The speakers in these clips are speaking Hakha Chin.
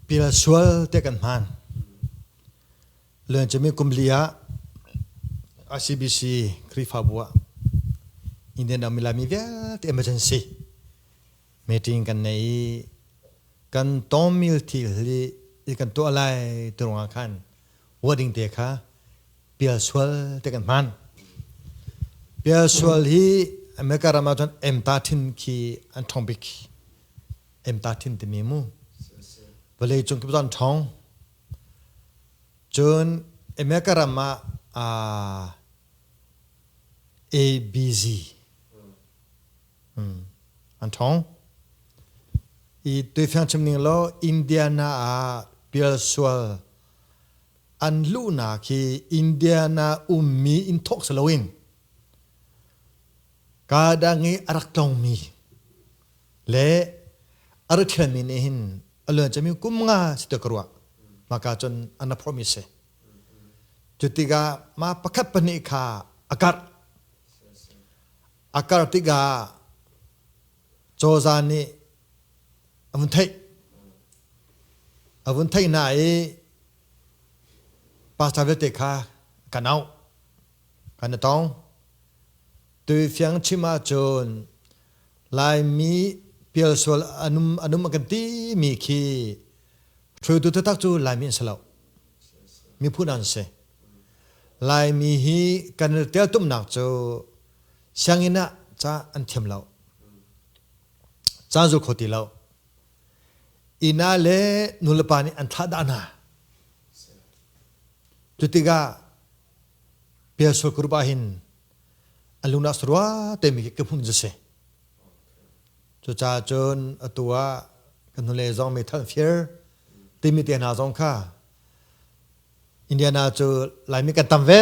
Pil sual te kan hmaan. Luan cumi kum li ah ICBC Khrihfabu ah Indian ram i laimi vialte emergency meeting kan nei i kan tawmil thil hi i kan tuah lai ti ruangah khan wording te kha pialsual te kan hman pialsual hi america ram ah cun emta thin khi an thong bik emta thin timi mu vale cung kip zon thong cun america ram ah abg an thong i tuifiang chim ning lo india na ah pialsual an luhnak hi India na ummi inn thawk si loin kadang i a rak tlongmi le a rak thialmi nih hin a luan cami kum nga si te ka ruah maka cun an a promise si cu tikah ma pakhat pahnih kha a karh a kar tikah cawza nih a vun theih a vun theih hna i pastor vialte kha kan auh kan i tong tu fiang chim ahcun laimi pial sual anum anum a kan ti mi khi hruaitu taktak cu laimi an si lo mi phu nan si laimi hi kan i tial tumnak cu Sianginn ah ca an thiam lo. Ca an zul kho ti lo. Ina le nulepa nih an thlah dah hna. Cu tikah pialsual ka rup ahhin an lungnak rua teimi khi ka hmuh cu si. Cuca cun atu ah kan hnulei zong meithal fir timi te hna zong kha Indiana cu Laimi kan tam ve.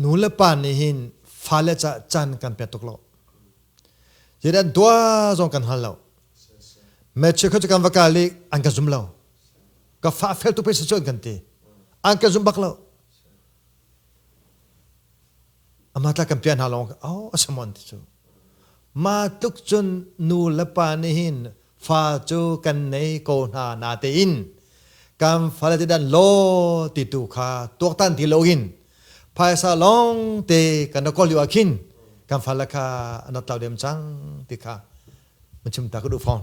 nu le pa nih hin fale ca can kan pek tuk lo zedan dua zong kan hal lo meche kho kan va kal i an kan zum lo ka fa fel tu pei cun kan ti an kan zum bak lo ama tla kan pian hna long au asamon ti cu ma tluk cun nu le pa nih hin fa cu kan nei ko hna na tein kan fale te dan lo ti tu kha tuaktan ti lo in phaisa long te kan ko liu akhin kan fala kha anat tal dem chang ti kha mun chim ta ka du phong